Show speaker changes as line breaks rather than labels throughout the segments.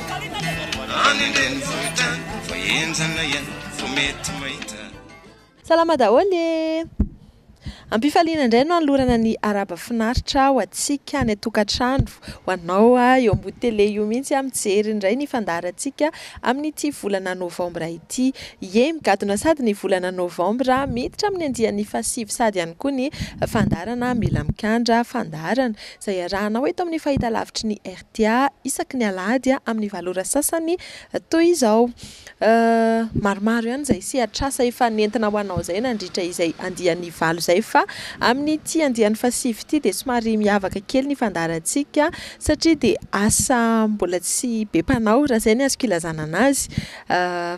Any an-drenivohitra any vao henjana ihany vao mety mahita. Salama
daholo e! Am-pifaliana indray no hanolorana ny Araba finaritra ho antsika any an-tokantrano, ho anao eo ambony tele io mihitsy aho mijery indray ny fandaharantsika amin'ity volana novambra ity. Ie, migadona sady ny volana novambra, miditra amin'ny andiany fahasivy sady ihany koa ny fandaharana Mila Mikandra Fandaharana izay iarahanao eto amin'ny fahitalavitry ny. dia isaky ny alahady amin'ny valo ora sasany toy izao. Maromaro ihany izay sehatr'asa efa nentina ho anao izay nandritra izay andiany valo izay fa amin'ity andiany fahasivy ity dia somary miavaka kely ny fandaharantsika satria dia asa mbola tsy be mpanao raha izay ny azoko ilazana an'azy.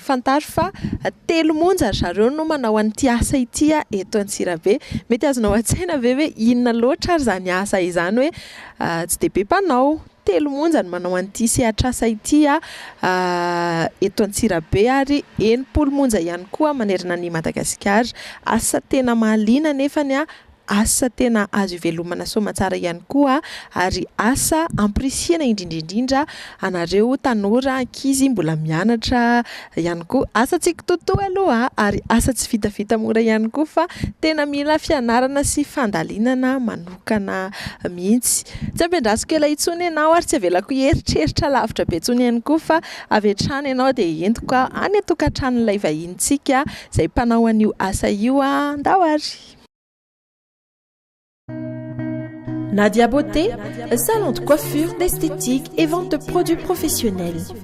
Fantaro fa telo monja ry zareo no manao an'ity asa ity eto Antsirabe. Mety azonao an-tsaina ve hoe inona loatra ary izany asa izany hoe Ah, tsy dia be mpanao. Telo monja no manao an'ity sehatr'asa ity eto Antsirabe ary enimpolo monja ihany koa manerana an'i Madagasikara. Asa tena mahaliana anefa, asa tena azo ivelomana soamantsara ihany koa ary asa ampirisihina indrindra indrindra anareo tanora, ankizy mbola mianatra ihany koa. Asa tsy kitoatoa aloha ary asa tsy vitavita mora ihany koa fa tena mila fianarana sy fandalinana manontolo. manokana mihitsy. Tsy ampiandrasiko ela intsony ianao ary tsy avelako hieritreritra lavitra be intsony ihany koa fa avy hatrany ianao dia entiko any an-tokantranon'ilay vahinintsika izay mpanao an'io asa io ndao ary.
Nadia Beauté, salon de coiffure, d'esthétique et vente de produits professionnels.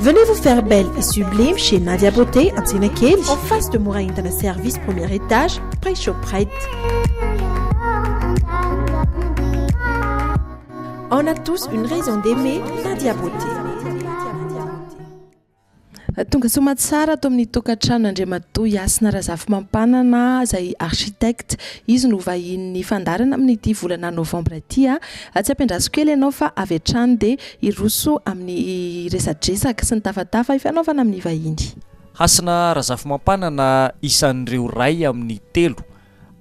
Venez vous faire belle et sublime chez Nadia Beauté Antsenakely en face de Mora Entana Service premier étage près Shoprite. On a tous une raison d'aimer Nadia Beauté.
Tonga soa Matsara ato amin'ny tokantrano Andriamatoa Yasina Razafimampanana izay architecte. Izy no vahinin'ny fandaharana amin'ity volana novambra ity. Tsy ampiandraso kely ianao fa avy hatrany dia Hiroso amin'ny resadresaka sy ny tafatafa ifanaovana amin'ny vahiny. Hasina
Razafimampanana isan'ireo ray amin'ny telo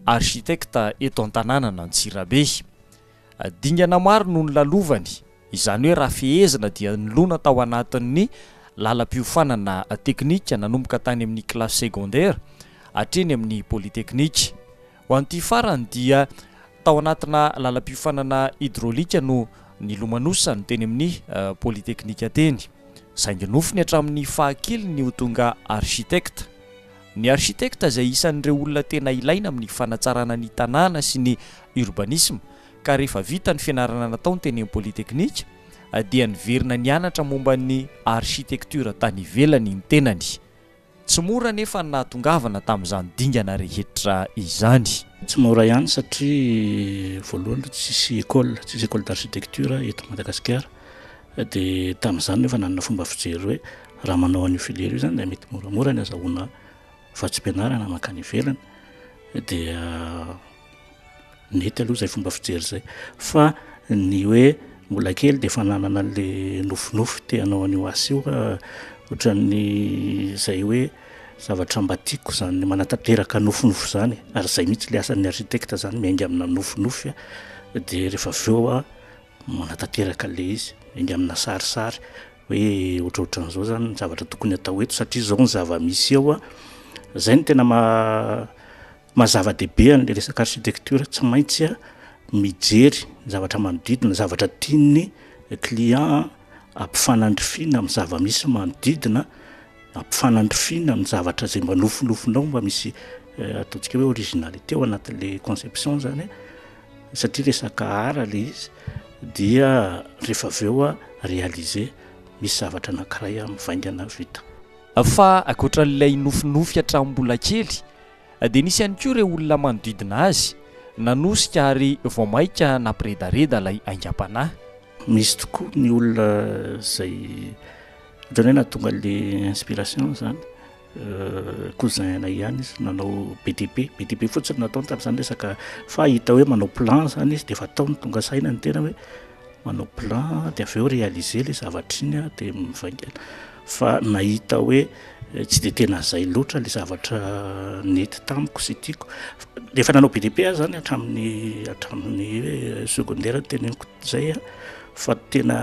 architecte eto an-tanànan'Antsirabe. Dingana maro no nolalovany, izany hoe raha fehezina dia nilona tao anatin'ny lalam-piofanana teknika nanomboka tany amin'ny kilasy secondaire hatreny amin'ny polytechnique. Ho an'ity farany dia tao anatina lalam-piofanana hydraulique no nilomanosany teny amin'ny polytechnique teny. Saingy nofony hatramin'ny fahakeliny ho tonga architecte. Ny architecte izay isan'ireo olona tena ilaina amin'ny fanatsarana ny tanàna sy ny urbanisme ka rehefa vita ny fianarana nataony teny amin'ny polytechnique dia niverina nianatra momba ny architecture tany ivelany ny tenany. Tsy mora anefa ny nahatongavana tamin'izany dingana rehetra izany. Tsy mora ihany
satria voalohany aloha tsisy école, tsisy école d'architecture eto Madagasikara dia tamin'izany no efa nanana fomba fijery hoe raha manao an'io filière io izany dia mety moramora ny azahoana vatsim-pianarana mankany ivelany dia Mety aloha izay fomba fijery izay fa ny hoe mbola kely dia efa nanana an'la nofinofy te hanao an'io asa io ah, ohatran'ny izay hoe zavatra mba tiako izany manatanteraka nofinofy izany ary izay mihitsy ilay asan'ny architecte izany miainga amina nofinofy ah, dia rehefa avy eo aho manatanteraka an'ilay izy miainga amina sarisary hoe ohatrohatran'izao izany ny zavatra tokony hatao eto satria izao ny zava-misy eo ah, izay no tena maha Maha zava-dehibe an'ilay resaka architecture tsy maintsy mijery ny zavatra manodidina, ny zavatra tian'ny client ampifanandrifiana amin'ny zava-misy manodidina, ampifanandrifiana amin'ny zavatra izay mba nofinofinao mba misy eh, ataontsika hoe originalité ao anatin'ilay conception zany satria resaka art ilay izy dia rehefa avy eo réaliser misy zavatra anankiray mivaingana vita. Fa
ankoatran'ilay nofinofy hatramin'ny mbola kely dia nisy ihany koa ireo olona manodidina azy nanosika ary vao mainka nampiredareda ilay aingam-panahy. Misy tokoa
ny olona izay ohatran'ny hoe nahatonga ilay inspiration izany, cousin anay ihany izy nanao BTP, BTP fotsiny no nataony tamin'izany resaka fa hita hoe manao plan izany izy dia efa ataony, tonga saina ny tena hoe. manao plan dia avy eo réaliser ilay zavatra iny dia mivaingana fa nahita hoe tsy dia tena izay loatra ilay zavatra nety tamiko sy tiako efa nanao BDP aho zany hatramin'ny hatramin'ny hoe secondaire ny teneniko izay a fa tena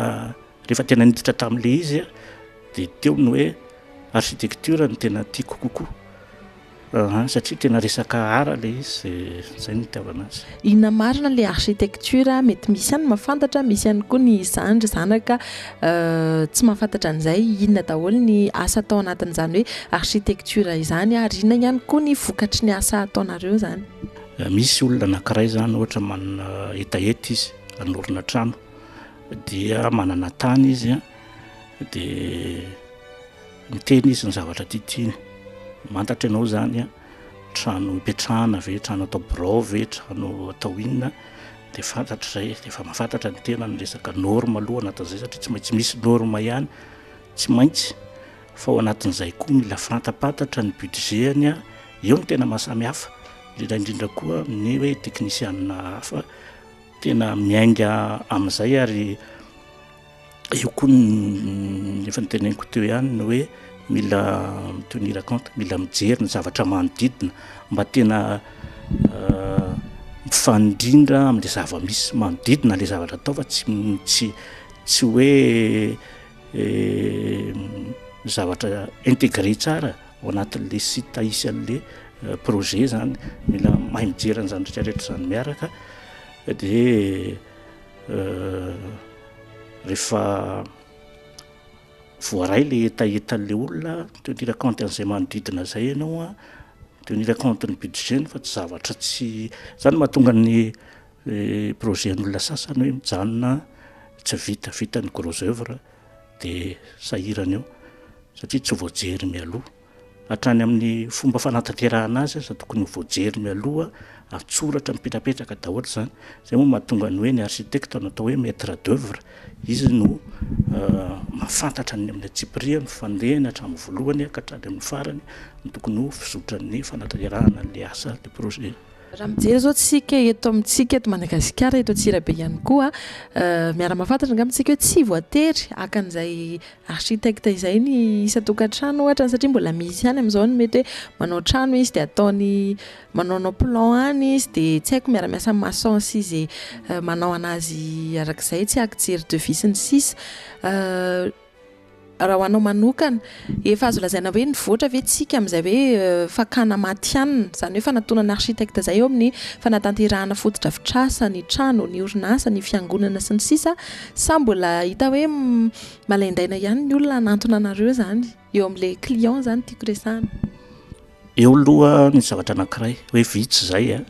rehefa tena niditra tamin'ilay izy a dia teo ny hoe architecture ny tena tiako kokoa Aa satria tena resaka art ilay izy dia zay no itiavana azy. Inona marina ilay
architecture a? Mety misy ihany ny mahafantatra, misy ihany koa ny zandry, zanaka tsy mahafantatra an'izay inona daholo ny asa atao anatin'izany hoe architecture izany ary inona ihany koa ny vokatry ny asa ataonareo izany. Misy olona
anankiray izany ohatra manana hetaheta izy hanorina trano dia manana tany izy dia Niteny izy ny zavatra tia tiany. Mantatra ianao izany an! Trano ipetrahana ve, trano atao birao ve, trano atao inona? Dia fantatra izay, dia efa mahafantatra ny tenany ny resaka norme aloha anatin'izay satria tsy maintsy misy norme ihany, tsy maintsy, fa ao anatin'izay koa mila fantampantatra ny budget-ny an! Eo no tena mahasamy hafa, indrindra indrindra koa ny hoe teknisianina hafa tena miainga amin'izay ary eo koa ny efa noteneniko teo ihany ny hoe mila mitenir compte mila mijery ny zavatra manodidina mba tena euh, mifanindrindra am'le zava-misy manodidina le zavatra atao fa tsy tsy tsy hoe eh, zavatra integre tsara ao anatin'le site hisy an'le euh, projet zany mila mahay mijery an'izany retraretra zany miaraka de Rehefa voaray ilay hetahetan'ilay olona teo ny raconte an'izay manodidina izay ianao a teo ny raconte ny budget-ny fa tsy zavatra tsy izany mahatonga ny eh, projet-n'olona sasany hoe mijanona tsy vita vita ny gros œuvre dia sahirana eo satria tsy voajery mialoha Hatrany amin'ny fomba fanatanterahana azy aza tokony ho voajery mialoha, an-tsoratra mipetrapetraka daholo izany. Izay moa mahatonga ny hoe ny architecte no atao hoe maitre d'oeuvre, izy no mahafantatra ny amin'ny antsipiriany, fandehany hatramin'ny voalohany ka hatrany amin'ny farany, ny tokony ho fizotran'ny fanatanterahana an'ilay asa, ilay projet. Raha mijery izao
isika eto amintsika eto Madagasikara, eto Antsirabe ihany koa, miara-mahafantatra angamba isika hoe tsy voatery haka an'izay architecte izay ny isan-tokantrano ohatra, satria mbola misy ihany amin'izao ny mety hoe manao trano izy dia ataony manaonao plan any izy dia tsy haiko miara-miasa amin'ny maçon sy izay manao an'azy arak'izay, tsy haiko jery devis sy ny sisa. Raha ho anao manokana, efa azo lazaina hoe nivoatra ve tsika amin'izay hoe fakana matihanina, izany hoe fanatonana architecte izay eo amin'ny fanatanterahana fotodrafitrasa, ny trano, ny orinasa, ny fiangonana sy ny sisa Sa mbola hita hoe malaindaina ihany ny olona hanantona anareo izany? Eo amin'ilay client izany tiako resahana. Eo
aloha ny zavatra anankiray hoe vitsy izay an,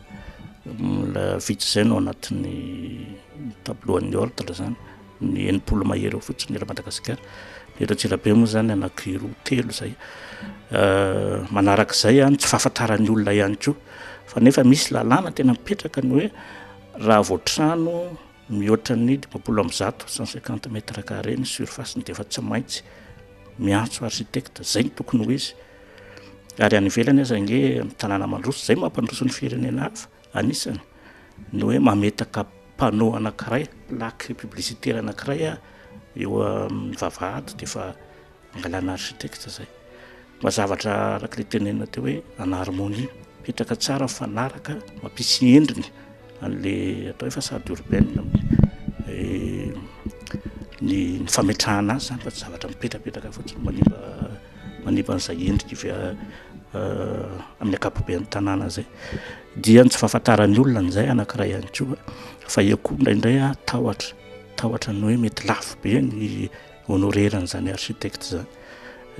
mbola vitsy izay no anatin'ny tableau an'ny ordre izany ny enimpolo mahery eo fotsiny eto Madagasikara, ny eto Antsirabe moa izany anankiroa telo izay, manaraka izay ny tsy fahafantaran'ny olona ihany koa fa nefa misy lalàna tena mipetraka ny hoe raha vao trano mihoatra ny dimampolo amby zato cent cinquante mètres carrés ny surface-ny dia efa tsy maintsy miantso architecte, izay no tokony ho izy ary any ivelany aza ange amin'ny tanàna mandroso, izay no mampandroso ny firenena hafa. Anisany ny hoe mametaka panneau anankiray, plaque publicitaire anankiray eo amin'ny vavahady dia efa angalana architecte izay. Mba zavatra araka ilay tenenina teo hoe en harmonie, mipetraka tsara, mifanaraka, mampisy endriny an'ilay atao hoe façade urbaine amin'ny ny fametrahana azy izany fa tsy zavatra mipetrapetraka fotsiny manimba manepa an'izay endrika izay amin'ny ankapoben'ny tanàna izay dia ny tsy fahafantaran'ny olona an'izay anankiray ihany koa fa eo koa indraindray a tahotra tahotra ny hoe mety lafo be ny honorerana izany architecte izany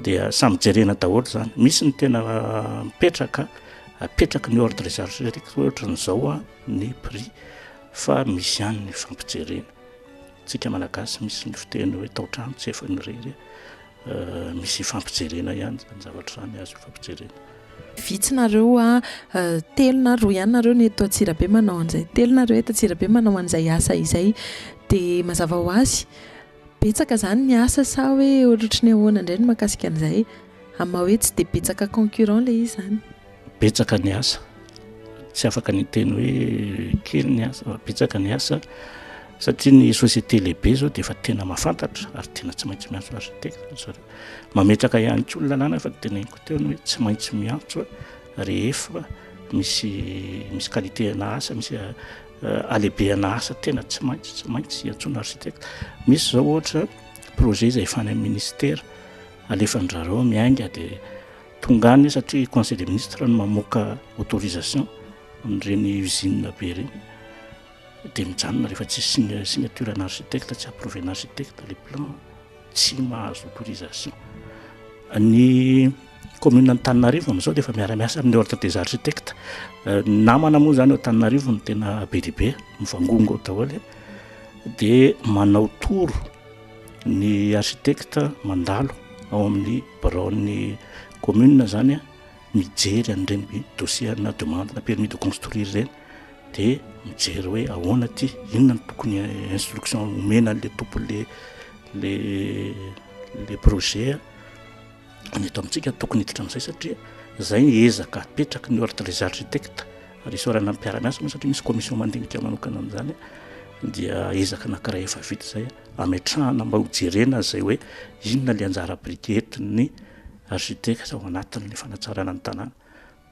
dia samy jerena daholo izany misy ny tena mipetraka apetraky ny ordre des architectes ohatra ny izao a ny prix fa misy ihany ny fampijerena tsika malagasy misy ny fiteny hoe taotrano tsy efa ny irery Misy ifampijerena ihany zany zavatra zany azo ifampijerena. Vitsy nareo
a, telo na roa ihany nareo no eto Antsirabe manao an'izay. Telo nareo eto Antsirabe manao an'izay asa izay. Dia mazava ho azy, betsaka izany ny asa sa hoe ohatry ny ahoana indray ny mahakasika an'izay? Amin'ny maha hoe tsy dia betsaka concurrent ilay izy izany. Betsaka ny asa,
tsy afaka ny hiteny hoe kely ny asa fa betsaka ny asa satria ny société lehibe izao dia efa tena mahafantatra ary tena tsy maintsy miantso architecte ry zareo. Mametraka ihany koa ny lalàna efa teneniko teo ny hoe tsy maintsy miantso rehefa misy misy qualité ana asa, misy halehibehana asa tena tsy maintsy tsy maintsy iantsoana architecte. Misy izao ohatra projet izay efa any amin'ny ministère alefan'ny zareo miainga dia. Tonga any satria conseil des ministres no mamoaka autorisation amin'ireny usine be ireny dia mijanona rehefa tsy signe signature an' architecte tsy approuvé an' architecte le plan tsy mahazo autorisation ny commune Antananarivo amin'izao dia efa miara-miasa amin'ny ordre des architectes namana moa izany ao Antananarivo no tena be dia be mivangongo ao daholo dia manao toro Ny architecte mandalo ao amin'ny biraon'ny commune zany mijery an'ireny dossier ana demande na permis de construire ireny dia mijery hoe ahoana ity, inona no tokony instruction omena an'ilay tompon'ilay ilay projet a, ny eto amintsika tokony hiditra amin'izay satria izay ezaka apetraky ny ordre des architectes. Ressort ana mpiara-miasa moa satria misy commission mandinika manokana amin'izany dia ezaka anankiray efa vita izay ametrahana mba ho jerena izay hoe inona le anjara biriky entin'ny architecte ao anatin'ny fanatsarana ny tanàna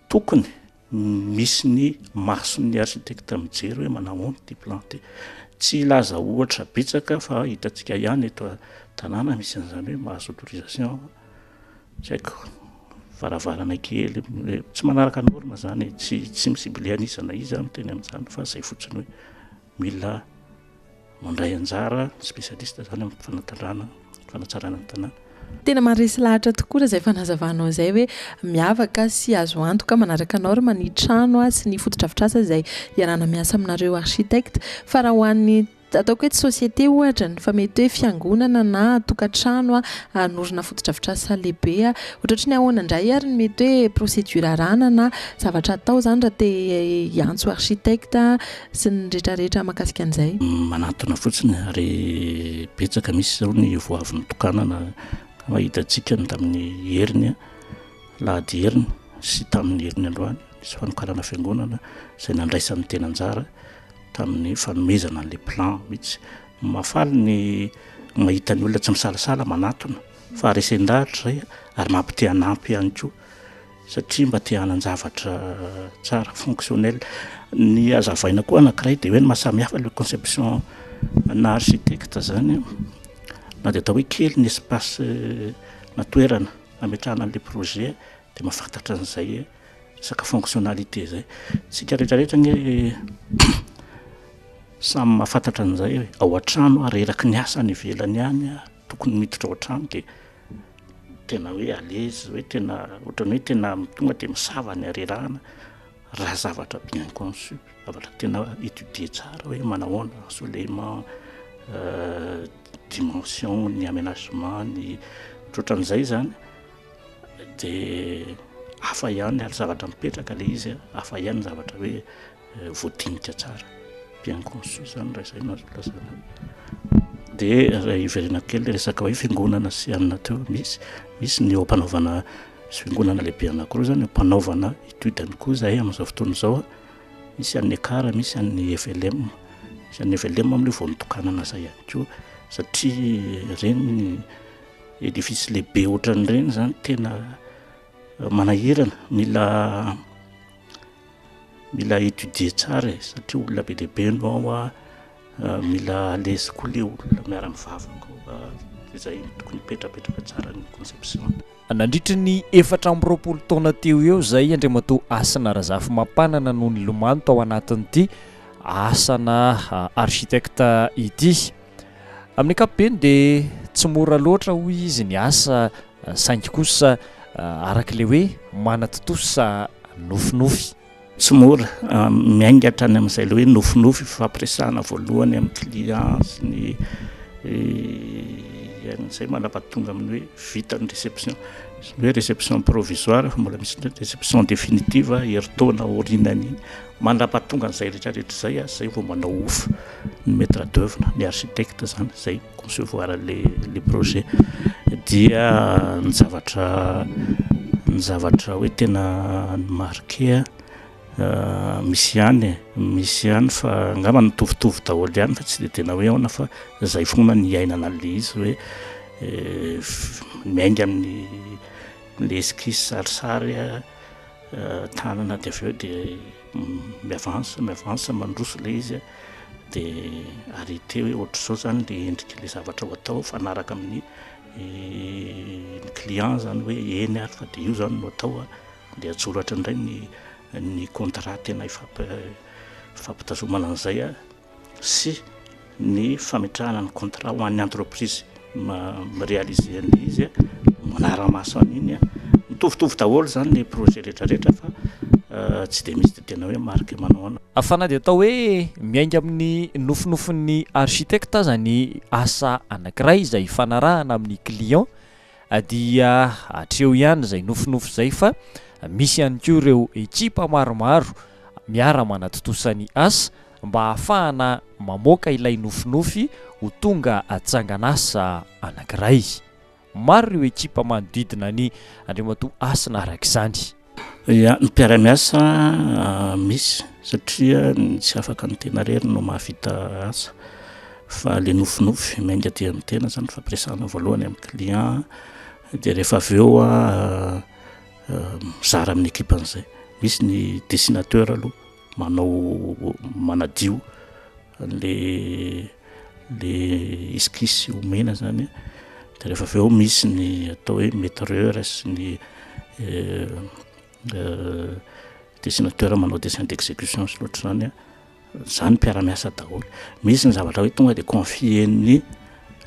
tokony misy ny mason'ny architecte mijery hoe manahoana ity plan ity tsy hilaza ohatra betsaka fa hitantsika ihany eto tanàna misy an'izany hoe mahazo autorisation Tsy haiko, varavarana kely, tsy manaraka norme zany e, tsy tsy mi-cibler an'iza na iza miteny an'izany fa zay fotsiny hoe mila mandray anjara spécialiste zany amin'ny fanatandrana, fanatsarana ny tanàna. Tena maharesy
lahatra tokoa raha izay fanazavanao izay hoe miavaka sy azo antoka manaraka norme ny trano sy ny fotodrafitrasa izay iarahana miasa aminareo architectes fa raha ho an'ny Ataoko eto société ohatra ny fa mety hoe fiangonana na tokantrano hanorina fotodrafitrasa lehibe ohatratry ny ahoana indray ary ny mety hoe procédure arahana na zavatra atao izany raha te hiantso architecte sy ny retraretra mahakasika an'izay? Manatona fotsiny
ary betsaka misy izao ny vao avy notokanana ka hitantsika ny tamin'ny heriny alahady heriny sy tamin'ny heriny androany nisy fanokanana fiangonana izay nandraisan'ny tena anjara tamin'ny fanomezana an'ilay plan mihitsy. Mahafaly ny mahita ny olona tsy misalasala manatona fa resen-dahatra izay ary mampite-hanampy ihany koa satria mba te-hanan-javatra tsara, fonctionnel. Ny hazavaina koa anankiray dia hoe ny mahasamihafa ilay conception ana architecte izany na dia atao hoe kely ny espace na toerana ametrahana an'ilay projet, Dia mahafantatra an'izay hoe resaka fonctionnalité izay. Isika rehetra rehetra ange samy mahafantatra an'izay hoe ao an-trano aho reraky ny asa any ivelany any aho, tokony miditra ao an-trano dia tena hoe à l'aise, hoe tena ohatran'ny hoe tena tonga dia misava ny harerahana raha zavatra bien conçu, zavatra tena étudier tsara hoe manao ahoana ny soulèvement, dimension-ny, aménagement-ny, ohatrohatran'izay izany. dia hafa ihany ary zavatra mipetraka ilay izy a hafa ihany zavatra hoe eh, voadinika tsara bien conçu zany raha izay no azo lazana dia raha iverena kely le resaka hoe fingonana sy anina teo misy misy ny eo mpanaovana sy fingonana lehibe anakiroa zany mpanaovana étude any koa zahay amin'izao fotoana izao a misy an'ny ekara misy an'ny flm misy an'ny flm amle vao nitokanana zay ihany koa satria reny Edifice lehibe ohatran'ireny zany tena manahirana, mila mila étudier tsara e, satria olona be dia be no ao an, mila à l'aise koa le olona miara mivavaka ao ka de zay no tokony hipetrapetraka tsara ny conception. Nandritry ny
efatra amby roapolo taona teo eo izay, Andriamatoa Hasina Razafimapanana no nilomano tao anatin'ity asana architecte ity. Amin'ny ankapobeny dia tsy mora loatra hoy izy ny asa saingy kosa araka ilay hoe manatontosa nofinofy.
Tsy mora, miainga hatrany amin'izay ilay hoe nofinofy ifampiresahana voalohany amin'ny client sy ny an'izay manapa tonga amin'ny hoe vita ny réception. Ny hoe réception provisoire fa mbola misy indray ny réception définitive herintaona aorianan'iny. Manapa tonga an'izay rehetra rehetra izay aho izay vao manao ofa. ny maitre d'oeuvre na ny architecte zany zay mi concevoir le le projet dia ny zavatra ny zavatra hoe tena ny marquer misy ihany e misy ihany fa angamba nitovitovy daholo ihany fa tsy de tena hoe aona fa zay foana ny iainana le izy hoe miainga amin'ny le esquisse sarisary tanana dia avy eo dia mi-avance mi-avance mandroso ilay izy dia arrêter hoe ohatr'izao izany ilay endrik'ilay zavatra ho atao, mifanaraka amin'ny client izany hoe eny ary fa dia io izany no atao a, dia an-tsoratra indray ny ny contrat tena ifampi- ifampitazomana an'izay a. sy ny fametrahana ny contrat ho an'ny entreprise mi-realiser ny izy manara-maso an'iny mitovitovy daholo izany ny projet rehetrarehetra fa tsy dia misy dia tena hoe marque manao anao Fa na dia atao hoe
miainga amin'ny nofinofin'ny architecte aza ny asa anankiray izay ifanarahana amin'ny client Dia hatreo ihany izay nofinofy izay fa misy ihany koa ireo ekipa maromaro miara-manatontosa ny asa mba hahafahana mamoaka ilay nofinofy ho tonga tsangan'asa anankiray. Maro ireo ekipa manodidina an'i Andriamatoa Hasina araka izany. Ia, ny
mpiara-miasa misy satria ny tsy afaka ny tena irery no mahavita asa fa le nofinofy mainga dia ny tena zany fampiresahana voalohany amin'ny client dia rehefa avy eo mizara amin'ny ekipa an'izay misy ny dessinateur aloha manao manadio Ilay ilay esquisse omena izany an, dia rehefa avy eo misy ny atao hoe metreur sy ny dessinateur manao dessin d'execution sy ny ohatr'izany an, izany mpiara-miasa daholo. Misy ny zavatra hoe tonga dia confier-ny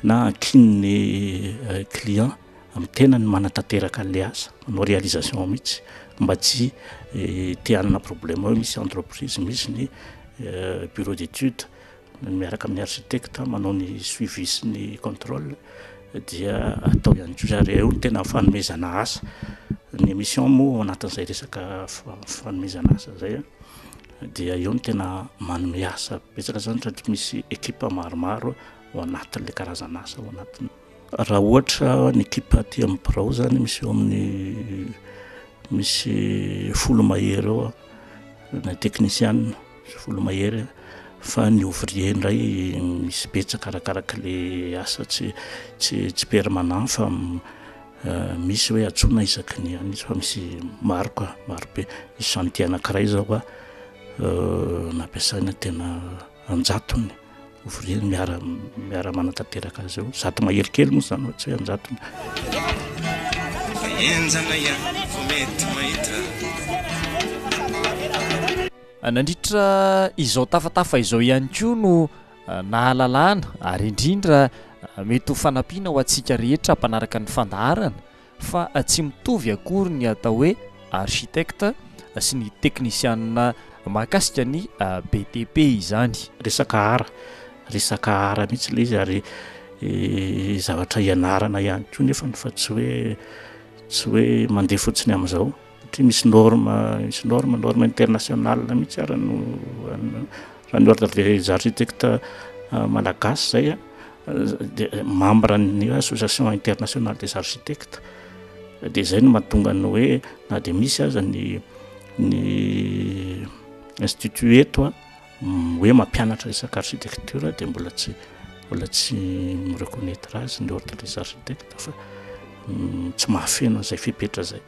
na ankinin'ny client. amin'ny tenany manatanteraka an'ilay asa, manao réalisation mihitsy mba tsy te hanana problème hoe misy entreprise, misy ny bureau d'études miaraka amin'ny architecte manao ny suivi sy ny contrôle dia atao ihany koa izany, eo no tena fanomezana asa, ny mission moa ao anatin'izay resaka fanomezana asa izay an, dia eo no tena manome asa betsaka izany satria misy équipe maromaro ao anatin'ilay karazana asa ao anatiny. Raha ohatra ny ekipa aty amin'ny birao izany misy eo amin'ny misy folo mahery eo na teknisianina misy folo mahery fa ny ouvrier indray misy betsaka arakaraka le asa tsy tsy tsy permanent fa euh, misy hoe atsoina isaky ny any izy fa misy maro ka maro be misy chantier anankiray izao ka euh, nampiasaina tena an-jatony ouvrier miara miara manatanteraka azy eo zato mahery kely moa zany tsy hoe anjatony
enjana ihany vao mety mahita
nandritra izao tafatafa izao ihany koa no eh, nahalalana ary indrindra eh, mety ho fanampiana ho antsika rehetra mpanaraka ny fandaharana fa tsy mitovy akory ny atao hoe architecte sy ny teknisianina mahakasika ny BTP izany. Resaka art,
resaka art mihitsy ilay izy ary zavatra ianarana ihany koa nefany fa tsy hoe tsy hoe mandeha fotsiny amin'izao. satria misy norme misy norme norme international mihitsy ary no raha ny ordre des architectes euh, malagasy zay a de membre ny association internationale des architectes de zay no mahatonga ny hoe na de misy aza ny ny institut eto a hoe mampianatra resaka architecture dia mbola tsy mbola tsy mireconnaître azy ny ordre des architectes fa mm, tsy mahafeno an'izay fepetra zay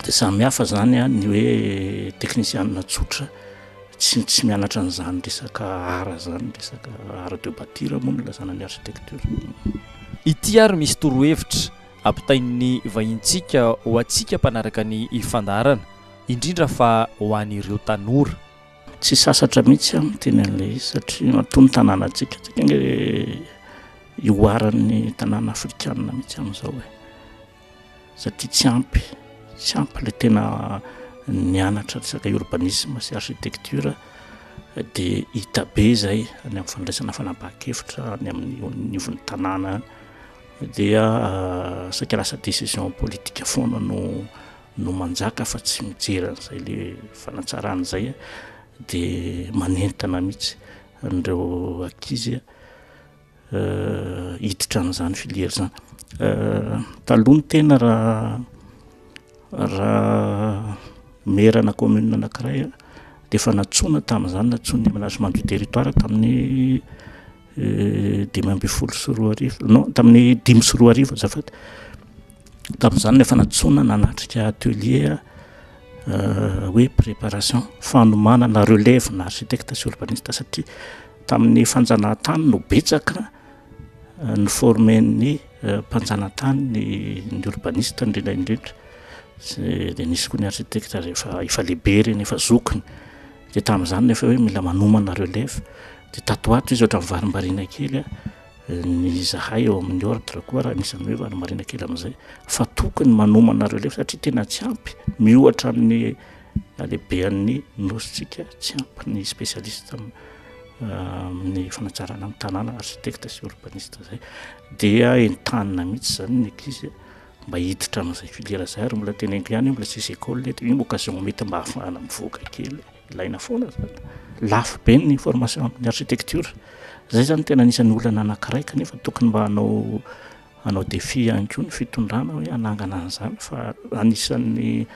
dia samy hafa zany a ny hoe teknisianina tsotra tsy tsy mianatra an'izany resaka ara zany resaka ara de batira moa no lazana ny architecture ity
ary misy torohevitra ampitain'ny vahintsika ho antsika mpanaraka ny fandaharana indrindra fa ho an'ireo tanora. Tsy sasatra
mihitsy aho miteny an'ilay izy satria matoa ny tanànantsika, tsika ange ihoaran'ny tanàna afrikanina mihitsy amin'izao e, satria tsy ampy, tsy ampy ilay tena nianatra resaka urbanisme sy architecture dia hita be izay any amin'ny fandraisana fanapahan-kevitra any amin'ny nivon'ny tanàna any dia saika lasa décision politique foana no no manjaka fa tsy mijery an'izay le fanatsarana izay de manentana mihitsy an'ireo ankizy hiditra an'izany filière zany taloha ny tena raha raha maire-na commune anankiray de efa nantsoina tamin'izany nantsoin'ny aménagement du territoire tamin'ny dimy ambin'ny folo sy roa arivo non tamin'ny dimy sy roa arivo azafady tamin'izany no efa nantsoina nanatrika atelier euh, hoe préparation fanomanana relève na architecte sy urbaniste satria tamin'ny fanjanahantany no betsaka euh, ny formen'ny euh, mpanjanatany ny ny urbaniste indrindra indrindra sy de nisy koa ny architecte rehefa efa lehibe reny efa zokiny Dia tamin'izany nefa hoe mila manomana relève dia tato ho ato izy ohatran'ny varimbariana kely ny izahay eo amin'ny ordre koa raha anisan'ny hoe varimbariana kely amin'izay fa tokony manomana relève satria tena tsy ampy miohatra amin'ny halehibean'ny nosintsika tsy ampy ny spécialiste amin'ny fanatsarana amin'ny tanàna architecte sy urbaniste izay dia entanina mihitsy izany ny ankizy mba hiditra amin'izay filière izay ary mbola teneniko ihany hoe mbola tsy misy école eto, io occasion mety mba hahafahana mivoaka kely, ilaina foana izany. Lafo be ny formation amin'ny architecture, izay izany tena anisan'ny olana anankiray kanefa tokony mba hanao hanao défi ihany koa ny fitondrana hoe hanangana an'izany fa anisan'ny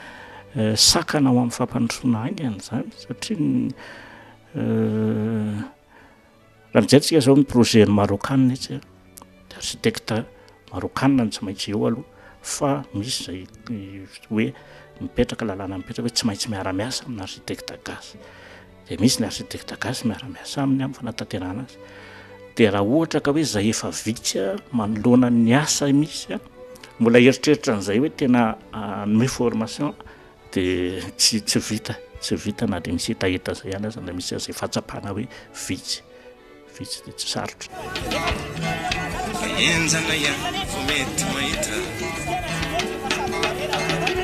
eh, sakana ho amin'ny fampandrosoana haingana izany satria eh, Raha mijery tsika zao ny projet ny Marokana etsy a, de architecte Marokana no tsy maintsy eo aloha fa misy zay hoe mipetraka lalàna mipetraka hoe tsy maintsy miara miasa amina architecte gasy. De misy ny architecte gasy miara miasa aminy am fanatanterahana azy. De raha ohatra ka hoe zay efa vitsy a manoloana ny asa misy a mbola eritreritra an'izay hoe tena hanome formation Dia tsy tsy vita tsy vita na dia misy hetaheta izay ihany aza na misy an'izay fahatsapana hoe vitsy vitsy dia tsy sarotra.
Enjana ihany vao mety mahita.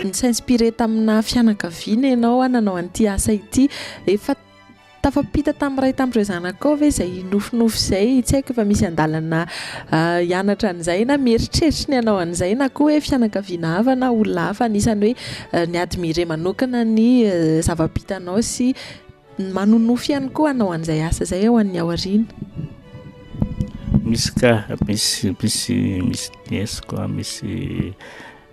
Ni-s'inspirer tamina fianakaviana ianao hanao an'ity asa ity. Efa Tafampita tamin'ny iray tamin'ireo zanakao ve izay nofinofy izay? Tsy haiko fa misy andalana hianatra an'izay na mieritreritry ny hanao an'izay na koa hoe fianakaviana hafa na olona hafa anisan'ny hoe ni-admirer manokana ny zava-bitanao sy manonofy ihany koa hanao an'izay asa izay ho an'ny aoriana?
Misy ka, misy, misy, misy niesiko, misy.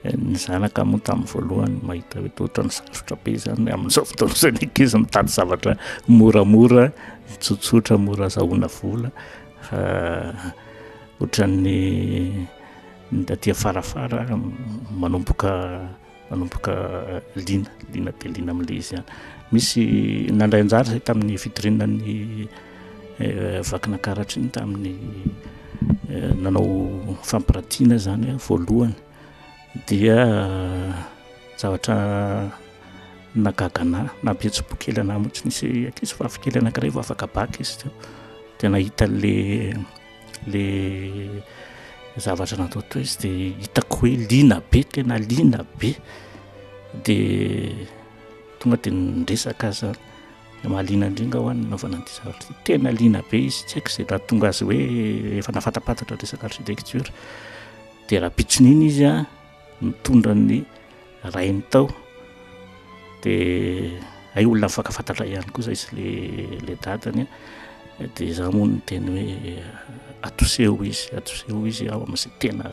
Ny zanaka moa tamin'ny voalohany mahita hoe toa ohatran'ny sarotra be izany, amin'izao fotoana izao ny ankizy mitady zavatra moramora, tsotsotra, mora azahoana vola, fa ohatran'ny ny taty afarafara manomboka manomboka liana, liana dia liana amin'ilay izy ihany. Misy nandray anjara izay tamin'ny fitoriana ny Vakinankaratry ny tamin'ny nanao fampiratiana izany aho voalohany dia zavatra nahagaga anah, nampihetsi-po kely anah mihitsy, nisy ankizivavy kely anankiray vao afaka bac izy teo dia nahita an'ilay ilay zavatra natao teo izy dia hitako hoe liana be tena liana be dia tonga dia niresaka aho izany. Mahaliana indrindra hoa ny nanaovana an'ity zavatra ity. Tena liana be izy, tsy haiko izay nahatonga azy hoe efa nafatapatatra ny resaka architecture. Dia raha pitson'iny izy a, nitondra ny rainy tao, dia hay olona mifankafatatra ihany koa izay sy le le dadany a, dia izaho moa niteny hoe atoseho izy, atoseho izy aho amin'izay tena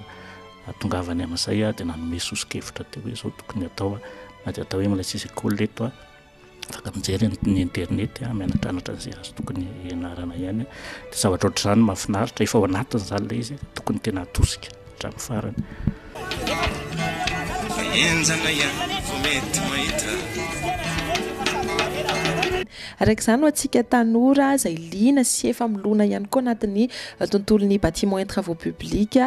atongavany amin'izay aho, dia nanome soso-kevitra teo hoe izao tokony atao a, na dia atao hoe mbola tsy hisy école eto a. afaka mijery ny internet a, mianatranatra an'izay azo tokony hianarana ihany de zavatra ohatr'izany mahafinaritra efa ao anatin'izany ilay izy tokony tena atosika hatramin'ny farany
enjana ihany vao mety mahita
araka izany ho antsika tanora izay liana sy efa milona ihany koa anatin'ny tontolon'ny bâtiments et travaux publics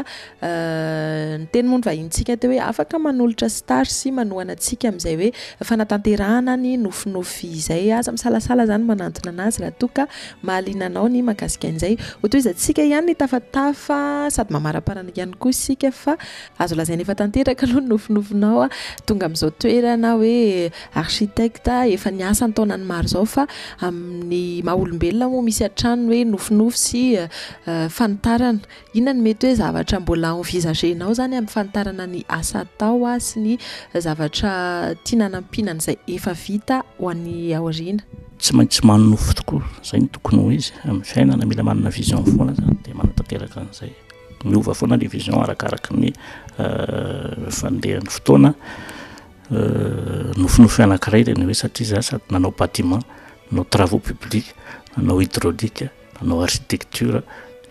Ny teny moa ny vahinintsika teo hoe afaka manolotra star sy manohana antsika amin'izay hoe fanatanterahana ny nofinofy izay. Aza misalasala izany manantona anazy raha toa ka mahaliana anao ny mahakasika an'izay. Hotohizantsika ihany ny tafatafa sady mamaraparana ihany koa isika fa azo lazaina efa tanteraka aloha ny nofinofinao tonga amin'izao toerana hoe architecte efa niasa an-taonany maro izao fa amin'ny maha olombelona moa misy hatrany ny hoe nofinofy sy fanitarana Inona no mety hoe zavatra mbola envisager-nao zany ampifantarana ny asa atao sy ny zavatra tiana hanampiana an'izay efa vita ho any aoriana? Tsy maintsy manonofy
tokoa, izay no tokony ho izy amin'ny fiainana, mila manana vision foana zany dia manatanteraka an'izay, miova foana le vision arakaraky ny fandehan'ny fotoana, nofinofy anakiray le ny hoe satria za sady nanao bâtiment, nanao travaux publics, nanao hydraulique, Mpanao architecture,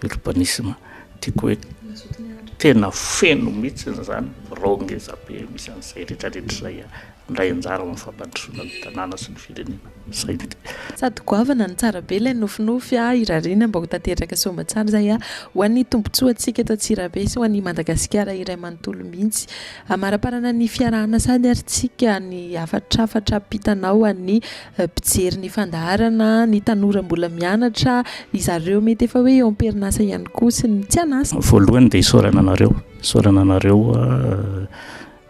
urbanisme, tiako hoe tena feno mihitsy izany birao ngeza be misy an'izay rehetra rehetra izay handray anjara amin'ny fampandrosoana ny tanàna sy ny firenena. Izay no tiako. Sady goavana
no tsara be ilay nofinofy a, irariana mba ho tanteraka soa mba tsara izay a, ho an'ny tombotsoa antsika eto Antsirabe sy ho an'ny Madagasikara iray manontolo mihitsy. Amaraparana ny fiarahana sady ary tsika ny hafatrafatra ampitanao an'ny Mpijery ny fandaharana, ny tanora mbola mianatra, ry zareo mety efa hoe eo am-perinasa ihany koa sy ny tsy an'asa. Voalohany dia isaorana
anareo, isaorana anareo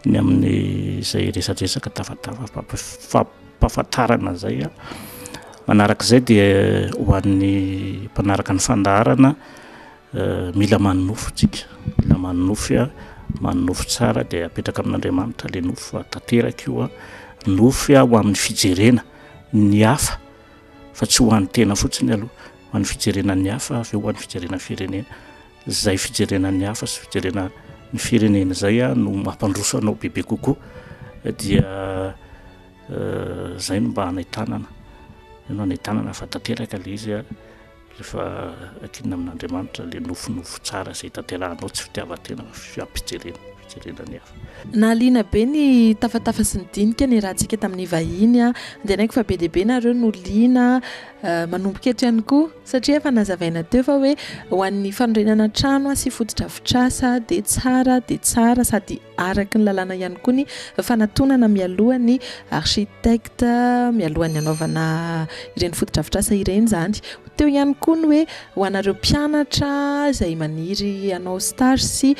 ny amin'izay resadresaka tafatafam-pampahafantarana izay. Manarak'izay dia ho an'ny mpanaraka ny fandaharana Mila manonofy isika, mila manonofy an, manonofy tsara dia apetraka amin'Andriamanitra ilay nofy fa tanteraka io an, nofy an ho amin'ny fijerena ny hafa fa tsy ho an'ny tena fotsiny aloha, ho an'ny fijerena ny hafa avy eo ho an'ny fijerena ny firenena, izay fijerena ny hafa sy fijerena ny firenena izay an no mampandroso anao bebe kokoa dia izay no mba hanentanana, izay no hanentanana fa tanteraka ilay izy an, Rehefa akinina amin'Andriamanitra ilay nofinofy tsara izay tanterahanao, tsy fitiavan-tena fa fiampijerena, fijerena ny hafa. Nahaliana be ny
tafatafa sy ny dinika niarahantsika tamin'ny vahiny. Andinihako fa be dia be nareo no liana, manomboka eto ihany koa, satria efa nazavaina teo fa hoe ho an'ny fanorenana trano sy fotodrafitrasa dia tsara dia tsara sady Araka ny lalàna ihany koa ny fanatonana mialoha ny architecte mialohan'ny hanaovana ireny fotodrafitrasa ireny izany. Teo ihany koa ny hoe ho anareo mpianatra izay maniry hanao stage sy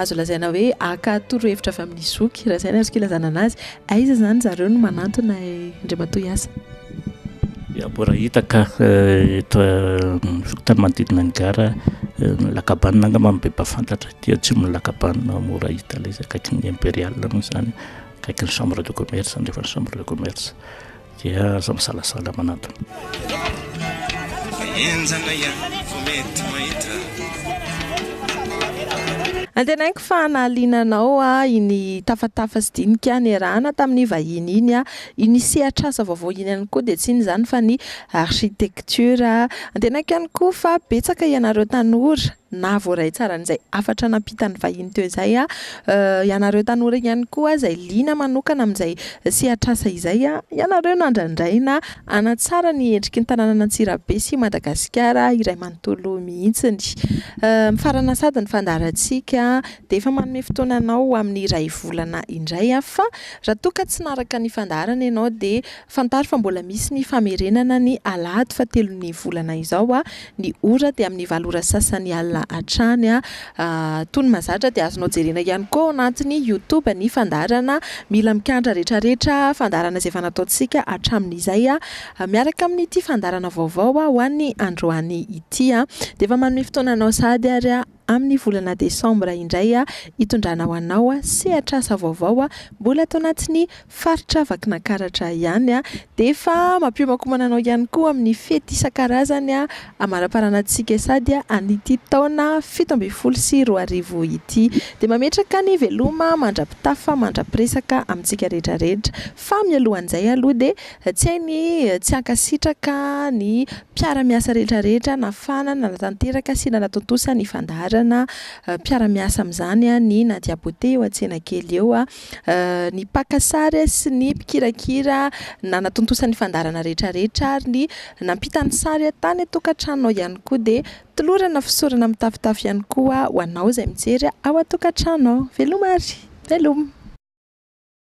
azo lazaina hoe haka torohevitra avy amin'ny zoky, raha izay no azoko ilazana anazy. Aiza izany zareo no manantona Andriamatoa Yasa? Ya,
mbola hita ka eto tany manodidina ny gara, ny lakabana angamba no be mpahafantatra. dia tsy mila kabanina mora hita ilay izy akaiky ny imperial moa izany akaiky ny chambre de commerce andefa ny chambre de commerce dia aza misalasala manatona
antenaiko fa nahaliana anao a iny tafatafa sy dinika niarahana tamin'ny vahiny iny a iny sehatr'asa vaovao iny ihany koa dia tsy iny izany fa ny architecture antenaiko ihany koa fa betsaka ianareo tanora na voaray tsara an'izay hafatra nampitan'ny vahiny teo izay aho. Ianareo tanora ihany koa izay liana manokana amin'izay sehatr'asa izay, ianareo nandrandraina hanatsara ny endriky ny tanànan'Antsirabe sy Madagasikara iray manontolo mihitsiny. Mifarana sady ny fandaharantsika dia efa manome fotoana anao ho amin'ny iray volana indray aho fa raha toa ka tsy naraka ny fandaharana ianao dia Fantaro fa mbola misy ny famerenana ny alahady fahatelon'ny volana izao. Ny ora dia amin'ny valo ora sasany alina hatrany. Tony mahazatra dia azonao jerena ihany koa ao anatin'ny youtube ny fandaharana Mila mikandra retraretra, fandaharana izay efa nataontsika hatramin'izay miaraka amin'ity fandaharana vaovao ho an'ny androany ity. Dia efa manome fotoana anao sahady ary aho. Amin'ny volana desambra indray hitondrana ho anao sehatr'asa vaovao mbola ato anatin'ny faritra Vakinankaratra ihany dia efa mampiomankomana anao ihany koa amin'ny fety isan-karazany amaraparana antsika sady an'ity taona fito ambin'ny folo sy roa arivo ity dia mametraka ny veloma mandra-pitafa mandra-piresaka amintsika rehetra rehetra fa mialohan'izay aloha dia Tsy hay ny tsy hankasitraka ny mpiara-miasa rehetra rehetra nafana, nanatanteraka sy nanatontosa ny fandaharana mpiara-miasa amin'izany ny Nadia Beauté eo Antsenakely eo. Ny mpaka sary sy ny mpikirakira nanatontosa ny fandaharana rehetra rehetra ary ny nampita ny sary tany an-tokantranonao ihany koa dia tolorana fisaorana mitafotafo ihany koa ho anao izay mijery ao an-tokantranonao. Veloma ary! Veloma!